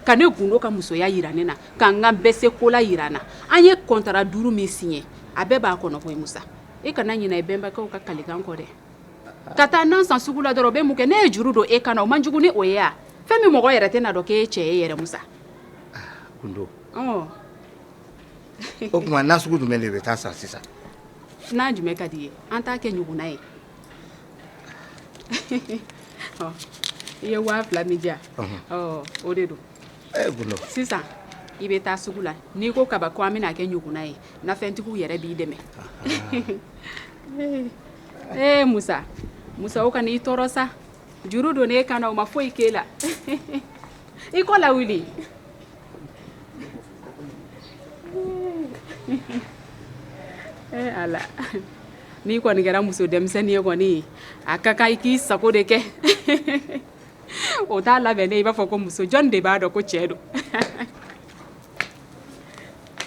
ka ne gundo ka musoya yira ne na ka n ka bɛsekola yira n na an ye kɔntara 5 min siɲɛ a bɛɛ b'a kɔnɔ koyi Musa e kana ɲinɛ i bɛnbakɛw ka kalikan kɔ dɛ ka taa nan san sugu la dɔrɔn o bɛ mun kɛ ne ye juru don e kan na o man jugu ni o ye a fɛn min mɔgɔ yɛrɛ tɛna dɔn k'e cɛ ye yɛrɛ Musa aa Gundo
ɔɔ o tuma na sugu jumɛn de bɛ taa san sisan na
jumɛn ka di i ye an t'a kɛ ɲuguna ye ɔ i ye waa fila min di yan ɔ o de don ɛɛ gundo sisan i bɛ taa sugu la n'i ko kaba ko an bɛn'a kɛ ɲuguna ye nafɛntigiw yɛrɛ b'i dɛmɛ ee musa musa o kana i tɔɔrɔ sa juru don ne kan na o ma foyi k'e la i kɔ lawuli Eh, ala n'i kɔni kɛra muso denmisɛnnin ye kɔni a ka kan i k'i sago de kɛ o t'a labɛnnen i b'a fɔ ko muso jɔn de b'a dɔn ko cɛ don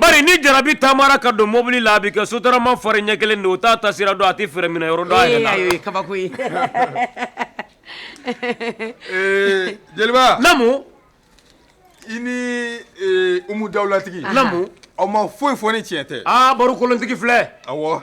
Bari ni jarabi taamara ka don mobili la a bɛ kɛ sotarama fari ɲɛ kelen de o t'a taasira dɔn a tɛ fɛrɛn minɛ yɔrɔ dɔn a yɛrɛ la, ee ayi o ye kabako ye,
ee jeliba, naamu, i ni Umu Dawulatigi, naamu, aw ma
foyi fɔ
ni tiɲɛ tɛ, aa baro kolontigi filɛ,
awɔ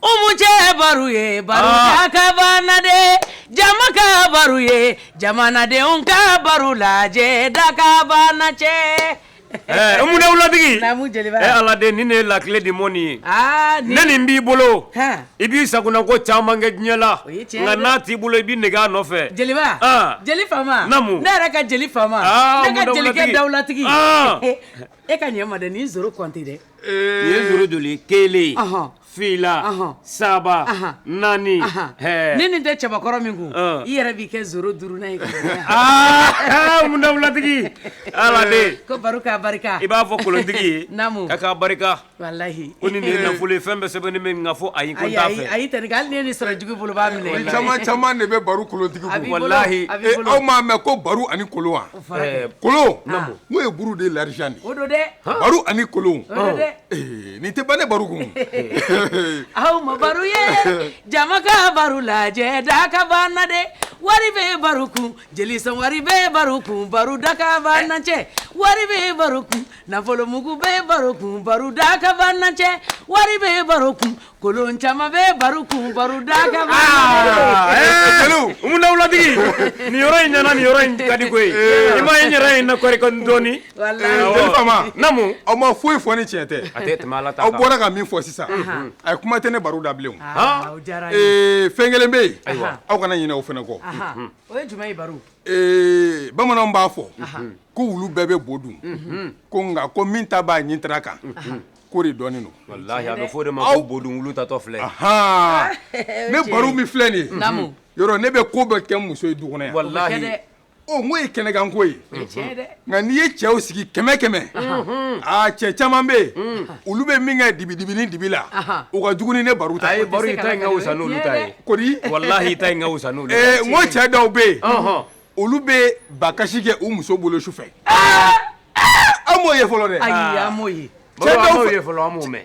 Umu cɛ baro ye baro dakabana de jama ka baro ye jamanadenw ka baro lajɛ dakabana cɛ
Umu Dawulatigi Ala
de ni ne
lakile de mɔni ye ni nin b'i bolo i b'i sagona ko caman kɛ diɲɛ la nka n'a t'i bolo i b'i nege a nɔfɛ jeliba
jeli faama naamu ne yɛrɛ ka jeli faama jelikɛ dawula e ka ɲɛ ma dɛ nin zoro kɔnte dɛ nin ye zoro
joli kelen fila saba naani ni nin
tɛ cɛbakɔrɔ min kun i yɛrɛ b'i kɛ zoro duurunan
ye Umu Dawulatigi Ala de ko baro ka barika
i b'a fɔ kolontigi ye
naamu k'a ka barika Walahi ko ni
nin ye nafolo
ye fɛn bɛɛ sɛbɛnnen bɛ yen nka fo ayi ko n t'a fɛ ayi ayi Tɛnin ka hali n'i ye nin
sɔrɔ jugu bolo n b'a minɛ i la nin caman caman de bɛ
baro kolontigi kun a b'i bolo walahi a b'i bolo aw
m'a mɛn ko
baro ani kolon wa o fɔra kɛ kolon naamu n'o ye buru de ye l'argent de ye o don dɛ baro
ani kolon
o don dɛ ee nin tɛ ban dɛ baro kun
aw ma baro ye jama ka baro lajɛ dakabana dɛ wari bɛ baro kun jeli sɔn wari bɛ baro kun baro dakabana cɛ wari bɛ baro kun Nafolomugu bɛ baro kun baro dakabana cɛ wari bɛ baro kun kolon caman bɛ baro kun baro
dakabana Umu Dawulatigi nin yɔrɔ in ɲɛna nin yɔrɔ in ka di koyi i m'a ye n yɛrɛ in na kɔri dɔɔnin
jeli faama naamu aw ma
foyi fɔ ni
tiɲɛ tɛ a tɛ tɛmɛ
aw bɔra ka min fɔ
sisan ayi kuma tɛ ne baro da bilen fɛn kelen bɛ yen aw kana ɲinɛ o fana kɔ
Ee
bamananw b'a fɔ ko wulu bɛɛ bɛ bo dun ko nka ko min ta b'a ɲintara kan k'o de dɔnnen don aw
bo tatɔ
filɛ ne baro min filɛ nin ye yɔrɔ ne bɛ ko bɛɛ kɛ muso ye du kɔnɔ
yan o ye
kɛnɛkanko ye Nka n'i ye cɛw sigi kɛmɛ kɛmɛ cɛ caman bɛ yen olu bɛ min kɛ dibi dibi ni dibi la u ka jugu ni ne baro ta baro ta
ka wusa walahi n ko cɛ dɔw
bɛ yen olu bɛ ba kasi kɛ u muso bolo su fɛ an m'o ye fɔlɔ dɛ
cɛ fɔlɔ
mɛn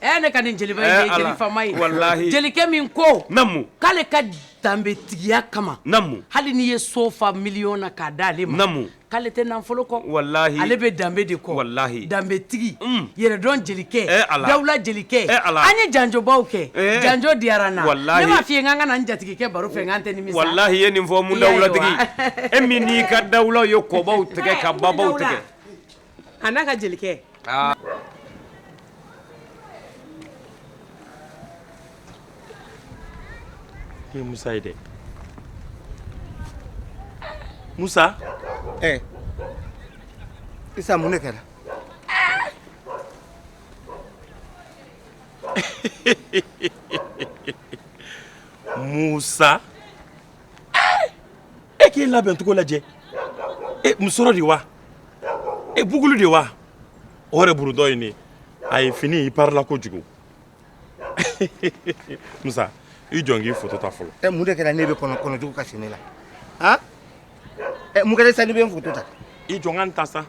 Ɛ ne ka nin jeliba in ye jeli faama ye, ee Ala, walahi, jelikɛ
min
ko, naamu, k'ale ka danbetigiya kama, naamu, hali n'i ye
so fa
miliyɔn na k'a d'ale ma, naamu, k'ale tɛ nafolo
kɔ,
walahi, ale bɛ danbe
de kɔ,
walahi, danbetigi,
un,
yɛrɛdɔn jelikɛ, ee Ala, dawula
jelikɛ,
ee Ala, an ye janjobaw kɛ, ee, janjo diyara n na, walahi, ne m'a f'i ye k'an ka
na
n jatigikɛ baro fɛ k'an tɛ nimisa, walahi i ye nin fɔ, Umu
Dawulatigi, e min n'i ka dawulaw ye kɔbaw tigɛ ka babaw tigɛ A
n'a ka
jelikɛ musa ye dɛ musa
isa mun de
kɛra musa e k'i labɛn cogo lajɛ e musɔrɔ de wa e bugulu de wa o yɛrɛ burudɔ ye ne a ye fini i parila kojugu musa i jɔ n k'i foto ta fɔlɔ ɛ mun de kɛra ne bɛ kɔnɔ
kɔnɔjugu ka sini la han ɛ mun kɛra sa ne bɛ n foto ta i jɔ n ka n ta
sa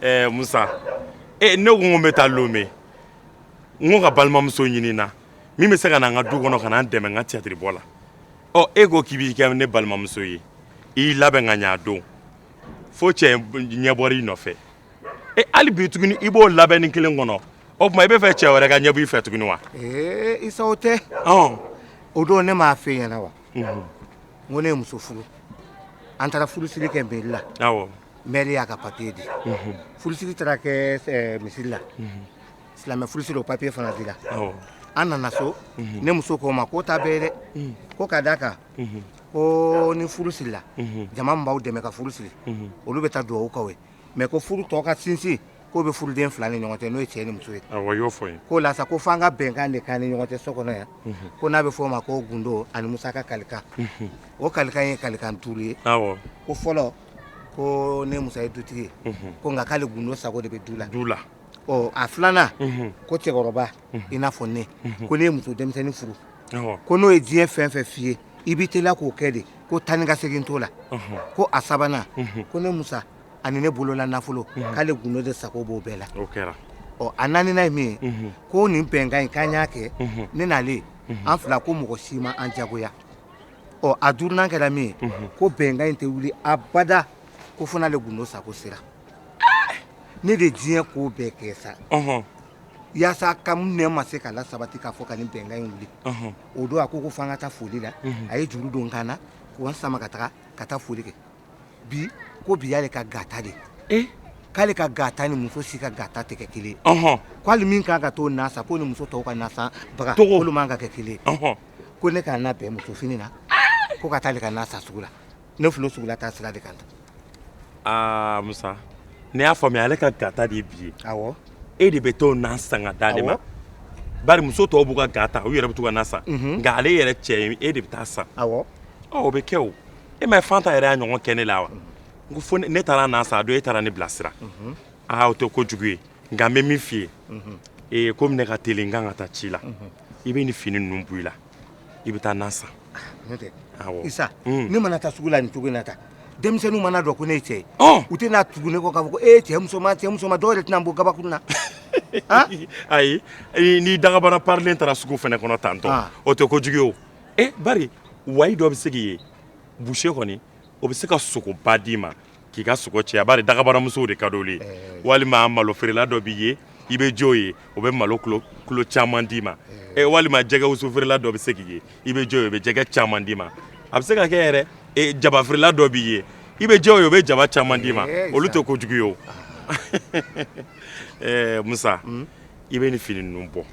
ɛ musa e ne ko n ko n bɛ taa lome n ko ka balimamuso ɲini na min bɛ se ka na n ka du kɔnɔ ka na n dɛmɛ n ka tiyatiri bɔ la ɔ e ko k'i b'i kɛ ne balimamuso ye i y'i labɛn ka ɲɛ a don fo cɛ ɲɛ bɔra i nɔfɛ e hali bi tuguni i b'o labɛnni kelen kɔnɔ o tuma i b'a fɛ cɛ wɛrɛ ka ɲɛ bɔ i fɛ tuguni wa ee isa o
tɛ o don ne m'a f'e ɲɛna wa n ko ne ye muso furu an taara furusiri kɛ meri la mɛri y'a ka papiye di furusiri taara kɛ misiri la silamɛ furusiri o papiye fana dira awɔ an nana so ne muso ko n ma k'o t'a bɛɛ ye dɛ ko ka d'a kan ko ni furu sirila jama min b'aw dɛmɛ ka furu siri olu bɛ taa dugawu k'aw ye mɛ ko furu tɔ ka sinsin k'o bɛ furuden fila ni ɲɔgɔn cɛ n'o ye cɛ ni muso ye awɔ i y'o fɔ n ye k'o la
sa ko f'an ka
bɛnkan de k'an ni ɲɔgɔn cɛ so kɔnɔ yan ko n'a bɛ f'o ma ko gundo ani musaka kalikan o kalikan ye kalikan duuru ye awɔ ko fɔlɔ ko ne musa ye dutigi ye ko nka k'ale gundo sago de bɛ du la ɔ a filanan ko cɛkɔrɔba i n'a fɔ ne ko ne ye muso denmisɛnnin furu ko n'o ye diɲɛ fɛn fɛn f'i ye i b'i teliya k'o kɛ de ko taa ni ka segin t'o la ko a sabanan ko ne musa ani ne bolola nafolo k'ale gundo de sago b'o bɛɛ la ɔ a naaninan ye min ye ko nin bɛnkan in k'an y'a kɛ ne n'ale an fila ko mɔgɔ si ma an jagoya ɔ a duurunan kɛra min ye ko bɛnkan in tɛ wuli abada ko fo n'ale gundo sago sera ne de diɲɛ ko bɛɛ kɛ sa yaasa ka ne ma se k'a lasabati k'a fɔ ka nin bɛnkan in wuli o don a ko ko f'an ka taa foli la a ye juru don n kan na ka n sama ka taga ka taa foli kɛ bi ko bi y'ale ka gata de k'ale ka gata ni muso si ka gata tɛ kɛ kelen k'ale min kan ka t'o na san ko ni muso tɔw ka nasanbaga olu man ka kɛ kelen ko ne ka n labɛn musofini na ko ka taa ale ka na san sugu la ne filɛ sugu la taa sira de kan aa
musa ne y'a faamuya ale ka ga ta de ye bi ye awɔ e de bɛ t'o na san ka d'ale ma awɔ bari muso tɔw b'u ka ga ta u yɛrɛ bɛ t'u ka na san Mhm. nka ale yɛrɛ cɛ ye e de bɛ taa san awɔ ɔ o bɛ kɛ o e ma ye fanta yɛrɛ y'a ɲɔgɔn kɛ ne la wa n ko fo ne ne taara na san a don e taara ne bilasira aa o tɛ ko jugu ye nka n bɛ min f'i ye ee komi ne ka teli n kan ka taa ci la i bɛ nin fini ninnu bɔ i la i bɛ taa na san n'o tɛ
awɔ isa un ne mana taa sugu la nin cogo in na tan denmisɛnninw man'a dɔn ko ne ye cɛ ye ɔn u tɛna tugu ne kɔ k'a fɔ ko ee cɛ musoman cɛ musoman dɔw yɛrɛ tɛna n bon gabakurun na
ayi i- n'i dagabana parilen taara sugu fɛnɛ kɔnɔ tantɔ Ah. o tɛ kojugu ye o e bari wayi dɔ bɛ se k'i ye buse kɔni o bɛ se ka sogoba d'i ma k'i ka sogo caya bari dagabanamusow de ka d'olu ye walima malofeerela dɔ b'i ye i bɛ j'o ye o bɛ malo kilo caman d'i ma ɛ walima jɛgɛwusufeerela dɔ bɛ se k'i ye i bɛ j'o ye o bɛ jɛgɛ caman d'i ma a bɛ se ka kɛ yɛrɛ e, jabafeerela dɔ b'i ye i bɛ j'o ye o bɛ jaba caman d'i ma olu tɛ kojugu ye o ɛɛ musa hmm? i bɛ nin fini ninnu bɔ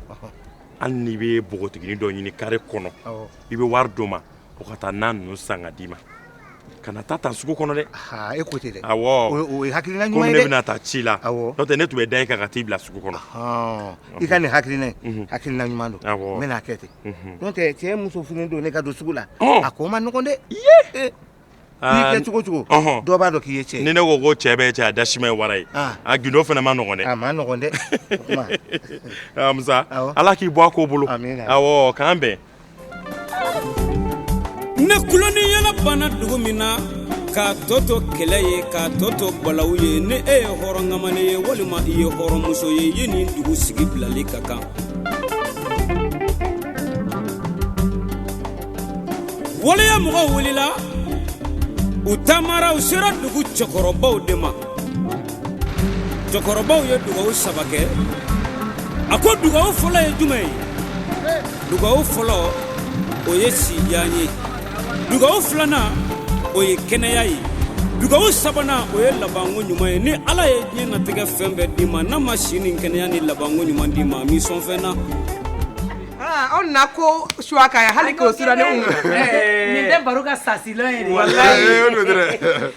hali n'i bɛ npogotiginin dɔ ɲini kare kɔnɔ i bɛ wari d'o ma o ka taa na ninnu san ka d'i ma kana taa tan sugu kɔnɔ dɛ e ko ten dɛ awɔ
o ye hakilina
ɲuman ye dɛ komi
ne bɛna taa ci la
awɔ n'o tɛ ne tun bɛ da e kan ka t'i bila sugu kɔnɔ i ka
nin hakilina in hakilina ɲuman don awɔ n bɛn'a kɛ ten n'o tɛ cɛ muso fini donnen ka don sugu la a ko man nɔgɔn dɛ Aa cogo cogo dɔ b'a dɔn k'i ye cɛ ye ni ne ko ko cɛ bɛɛ
cɛ a dasima ye wara ye a gindo fana man nɔgɔn dɛ a man nɔgɔn dɛ musa ala k'i bɔ a ko bolo k'an bɛn
ne kuloni yaala banna dugu min na k'a tɔ to kɛlɛ ye k'a tɔ to balaw ye ni e ye hɔrɔn kamalen ye walima i ye hɔrɔnmuso ye i ye nin dugu sigi bilali ka kan waleya mɔgɔw wulila u taamara u sera dugu cɛkɔrɔbaw de ma cɛkɔrɔbaw ye dugawu saba kɛ a ko dugawu fɔlɔ ye jumɛn ye dugawu fɔlɔ o ye sijan ye dugawu filanan o ye kɛnɛya ye dugawu sabanan o ye labanko ɲuman ye ni ala ye diɲɛ natigɛ fɛn bɛɛ d'i ma n'a ma si ni kɛnɛya ni labanko ɲuman d'i ma a m'i sɔn fɛn na
Aw na ko su ka hali ko su nin
tɛ baro ka sasi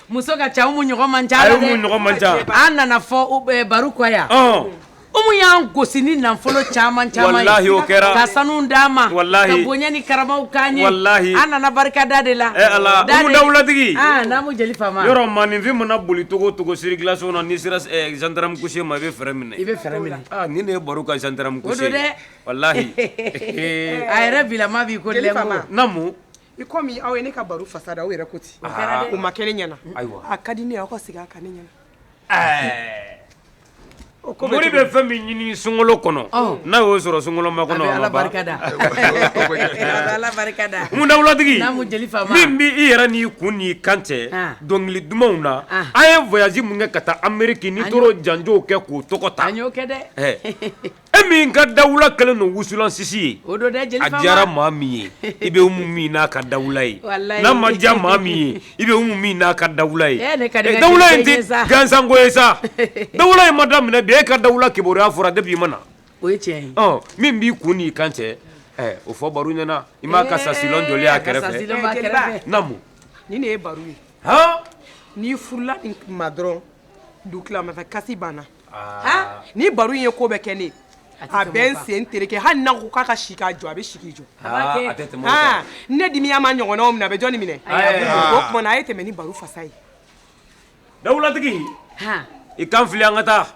muso ka ca umu ɲɔgɔn man ca ɲɔgɔn man ca an nana fɔ baro kɔ yan umu y'an gosi ni nafolo caman caman kɛra ka sanu d'an ma bonya ni karama k'an ye an nana barika da de la dawulatigi yɔrɔ maaninfin mana
boli cogo cogo siri glas na n'i sera zandaramu kuse ma i bɛ fɛrɛn minɛ i bɛ fɛrɛn minɛ ni
ne ye baro ka
zandaramu kuse dɛ Walahi
a yɛrɛ bilama b'i ko Jeli Fama naamu
i comme aw
ye ne ka baro fasa da aw yɛrɛ ko ten, o kɛra dɛ, o ma kɛ ne ɲɛna, ayiwa, a ka di ne ye aw ka segin a kan ne ɲɛna, ɛɛ,
o ko bɛ cogo di, mori bɛ fɛn min ɲini sunkalo kɔnɔ, ɔn, n'a y'o sɔrɔ sunkalo makɔnɔ, a bɛ Ala barika
da, a bɛ Ala barika da, Umu dawulatigi,
naamu Jeli Fama,
min bɛ i yɛrɛ
n'i kun n'i kan cɛ, an, dɔnkili dumanw na, an, an ye voyage min kɛ ka taa Ameriki ni toro janjow kɛ k'o tɔgɔ ta, an
y'o
kɛ dɛ, ɛɛ E min ka dawula kɛlen don wusulansisi ye o don dɛ a
diyara maa min
ye i bɛ Umu min n'a ka dawula ye n'a ma diya maa min ye i bɛ Umu min n'a ka dawula ye dawula in tɛ gansanko ye sa dawula in ma daminɛ bi e ka dawula kibaruya fɔra depuis i ma na o ye
tiɲɛ ye min b'i kun n'i
kan cɛ o fɔ baro ɲɛna i m'a ka châssis long jɔlen a kɛrɛfɛ naamu ni ne ye baro
ye n'i furula nin ma dɔrɔn dugutilama fɛ kasi banna Aa ni baro in ye ko bɛɛ kɛ ne a bɛ n sen tereke hali n'a ko k'a ka si k'a jɔ a bɛ si k'i jɔ ne dimiya ma ɲɔgɔnnaw minɛ a bɛ jɔnni minɛ o tuma na a ye tɛmɛ ni baro fasa ye
dawulatigi i kan fili an ka taa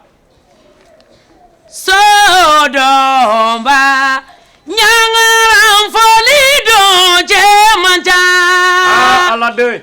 so dɔba ɲangaran fɔli don cɛ man ca aladenw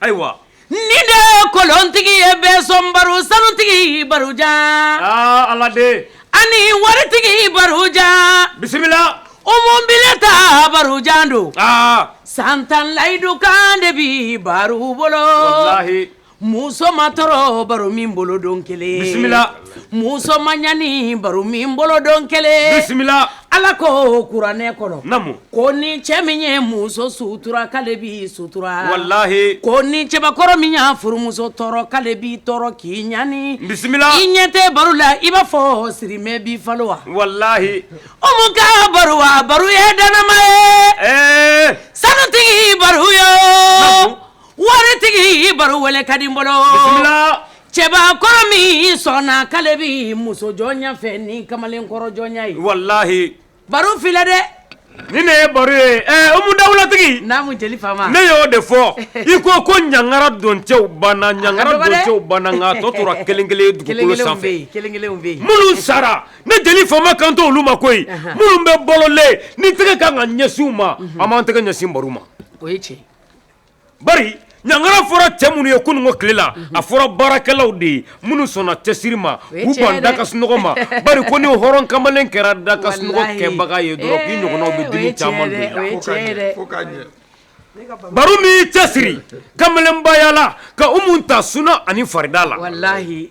Ayiwa nin
de ye kolontigi ye bɛɛ sɔn baro sanutigi barojan ala
de ani waritigi
barojan bisimila
Umu
bilen ta barojan don san tan layidu kan de bi baro
bolo walahi muso ma
tɔɔrɔ baro min bolo don kelen
muso
ma ɲani baro min bolo don kelen bisimila
ala
ko kuranɛ kɔnɔ ko ni
cɛ
min ye muso sutura k'ale b'i sutura walayi ko ni
cɛbakɔrɔ
min y'a furumuso tɔɔrɔ k'ale b'i tɔɔrɔ k'i ɲani bisimila i ɲɛ
tɛ baro
la i b'a fɔ sirimɛ bi falo wa
walayi Umu
ka baro wa baro ye danama ye sanutigi baro yo waritigi baro wele ka di n bolo cɛbakɔrɔ min sɔnna k'ale bɛ muso jɔnya fɛ ni kamalenkɔrɔ jɔnya ye walahi
baro filɛ dɛ
ni ne ye baro
ye Umu dawulatigi naamu jeli fama ne
y'o de fɔ
i ko ko ɲangara don cɛw banna ɲangara don cɛw banna nka tɔ tora kelen kelen dugukolo sanfɛ kelen kelen bɛ yen
minnu
sara ne jeli fama kan t'olu ma koyi minnu bɛ balolen ni tɛgɛ ka kan ka ɲɛsin u ma an b'an tɛgɛ ɲɛsin baro ma o ye tiɲɛ Bari ɲangara fɔra cɛ minnu ye kununko tile la, a fɔra baarakɛlaw de ye minnu sɔnna cɛsiri ma, o ye tiɲɛ ye dɛ, k'u ban da ka sunɔgɔ ma, bari ko ni hɔrɔn kamalen kɛra da ka sunɔgɔ kɛbaga ye dɔrɔn k'i ɲɔgɔnnaw bɛ dimi caman don i la, o ye tiɲɛ ye dɛ, fo k'a ɲɛ, Baru min y'i cɛsiri kamalenbaya la ka Umu ta suna ani farida la, walahi